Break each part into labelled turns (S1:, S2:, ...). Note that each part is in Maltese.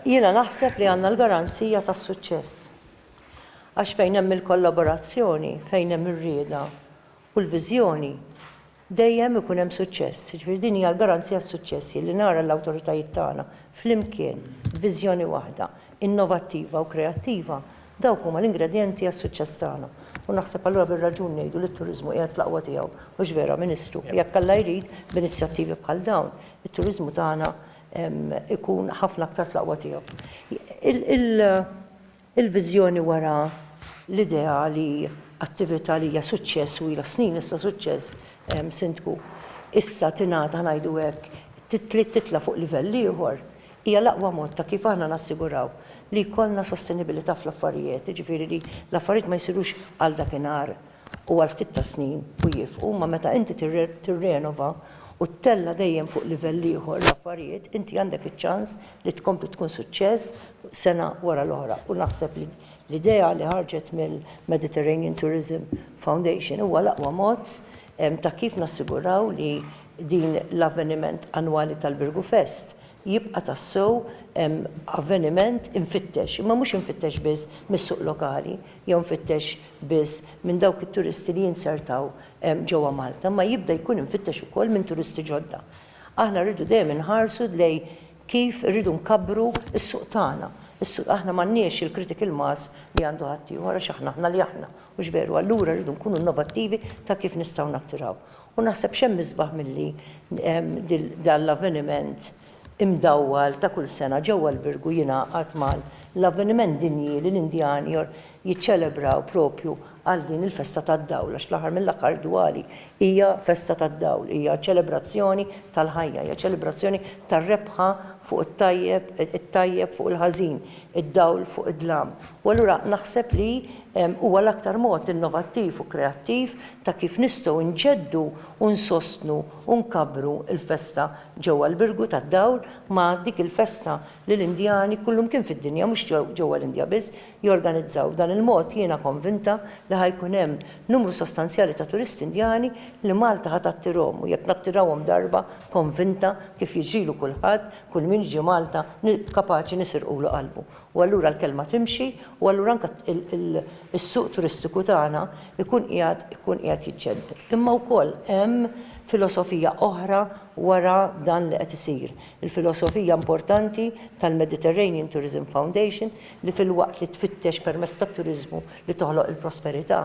S1: Jiena naħseb li għandna l-garanzija tas-suċċess. Għax fejn hemm il-kollaborazzjoni, fejn hemm ir-rieda u l-viżjoni, dejjem ikun hemm suċċess. Jiġifieri din hija l-garanzija s-suċċess li nara l-awtoritajiet tagħna flimkien b'viżjoni waħda, innovattiva u kreattiva, Dawk huma l-ingredjenti għas-suċċess tagħna u naħseb allura bir-raġun ngħidu li t-turiżmu qiegħed fl-aqwa tiegħu, mhux vera, Ministru? Jekk Alla jrid, b'inizjattivi bħal dawn, it-turiżmu tagħna jkun ħafna aktar fl-aqwa tiegħu. Il-viżjoni wara l-idea li attività li hija suċċess u ilha snin issa suċċess, Sindku, issa tingħata, ngħidu hekk, trid titla' fuq livell ieħor, Hija l-aqwa mod ta' kif aħna nassiguraw li jkollna sostenibilità fl-affarijiet, jiġifieri li l-affarijiet ma jsirux għal dakinhar u għal ftit tas-snin u jieqfu, imma meta inti tirrenova u ttella' dejjem fuq livell ieħor l-affarijiet, inti għandek iċ-ċans li tkompli tkun suċċess sena wara l-oħra. U naħseb li l-idea li ħarġet mill-Mediterranean Tourism Foundation huwa l-aqwa mod ta' kif nassiguraw li din l-avveniment annwali tal-Birgu Fest jibqa' tassew avveniment imfittex, imma mhux imfittex biss mis-suq lokali jew imfittex biss minn dawk it-turisti li jinzertaw ġewwa Malta, imma jibda jkun imfittex ukoll minn turisti ġodda. Aħna rridu dejjem inħarsu lejn kif irridu nkabbru s-suq tagħna. Is-suq, aħna m'għandniex il-critical mass li għandu ħaddieħor għax aħna aħna li aħna, mhux veru? Allura rridu nkunu innovattivi ta' kif nistgħu nattiraw. U naħseb x'hemm isbaħ milli dan l-avveniment imdawwal ta' kull sena ġewwa l-Birgu jingħaqad ma' l-avveniment dinji li l-Indjani jiċċelebraw propju għal din il-festa tad-dawl għax fl-aħħar mill-aħħar Diwali hija festa tad-dawl, hija ċelebrazzjoni tal-ħajja, hija ċelebrazzjoni tar-rebħa fuq it-tajjeb, it-tajjeb fuq il-ħażin, id-dawl fuq id-dlam. U allura naħseb li huwa l-aktar mod innovattiv u kreattiv ta' kif nistgħu nġeddu u nsostnu u nkabbru l-festa ġewwa l-Birgu tad-Dawl ma' dik il-festa li l-Indjani kullumkien fid-dinja, mhux ġewwa l-Indja biss, jorganizzaw. B'dan il-mod jiena konvinta li ħa jkun hemm numru sostanzjali ta' turisti Indjani li Malta ħa tattirhom u jekk nattirahom darba, konvinta, kif jiġrilu kulħadd, kull min jiġi Malta kapaċi nisirqulu qalbu. u allura l-kelma timxi u allura anke is-suq turistiku tagħna jkun qiegħed ikun qiegħed jiġġedded. Imma wkoll hemm filosofija oħra wara dan li qed isir, il-filosofija importanti tal-Mediterranean Tourism Foundation li filwaqt li tfittex permezz tat-turiżmu li toħloq il-prosperità,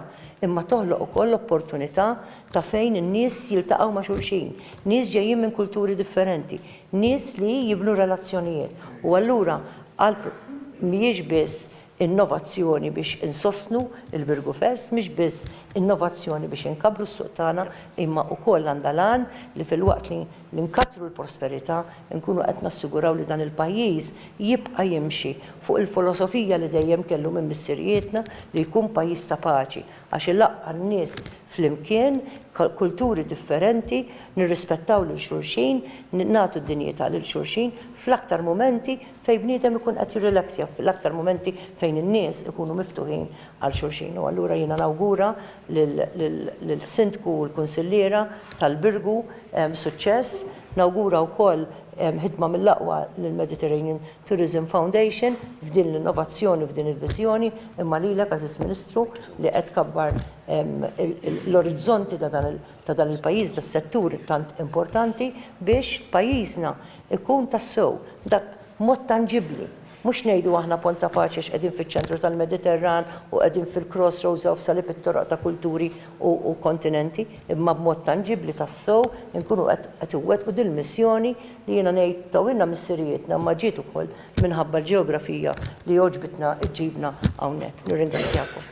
S1: imma toħloq ukoll opportunità ta' fejn in-nies jiltaqgħu ma' xulxin, nies ġejjin minn kulturi differenti, nies li jibnu relazzjonijiet u allura għall mhijiex biss innovazzjoni biex insostnu l-Birgufest, mhix biss innovazzjoni biex inkabbru s-suq tagħna imma wkoll għandha l-għan li filwaqt li li nkattru l-prosperità nkunu qed nassiguraw li dan il-pajjiż jibqa' jimxi fuq il-folosofija li dejjem kellu minn missirijietna li jkun pajjiż ta' paċi, Għax ilaqqa' n-nies flimkien, kulturi differenti, nirrispettaw lil xulxin, nagħtu dinjità lil xulxin fl-aktar mumenti fejn bniedem ikun qed jirrilaxja, fl-aktar mumenti fejn in-nies ikunu miftuħin għal xulxin. U allura jiena nawgura lill-Sindku u l-Kunsilliera tal-Birgu suċċess. Nawgura wkoll ħidma mill-aqwa lill-Mediterranean Tourism Foundation f'din l-innovazzjoni u f'din il-viżjoni, imma lilek, Għażiż Ministru, li qed tkabbar l-orizzonti ta' dan il-pajjiż, tas-settur tant importanti biex pajjiżna jkun tassew dak mod tanġibbli. Mhux ngħidu aħna Pont ta' Paċi għax qegħdin fiċ-ċentru tal-Mediterran u qegħdin fil-cross roads of salib it-toroq ta' kulturi u kontinenti, imma b'mod tanġibbli tassew inkunu qed iwettqu dil-missjoni li jiena ngħid tawilna missirijietna imma ġiet ukoll minħabba l-ġeografija li għoġbitna ġġibna hawnhekk. Nirringrazzjakom.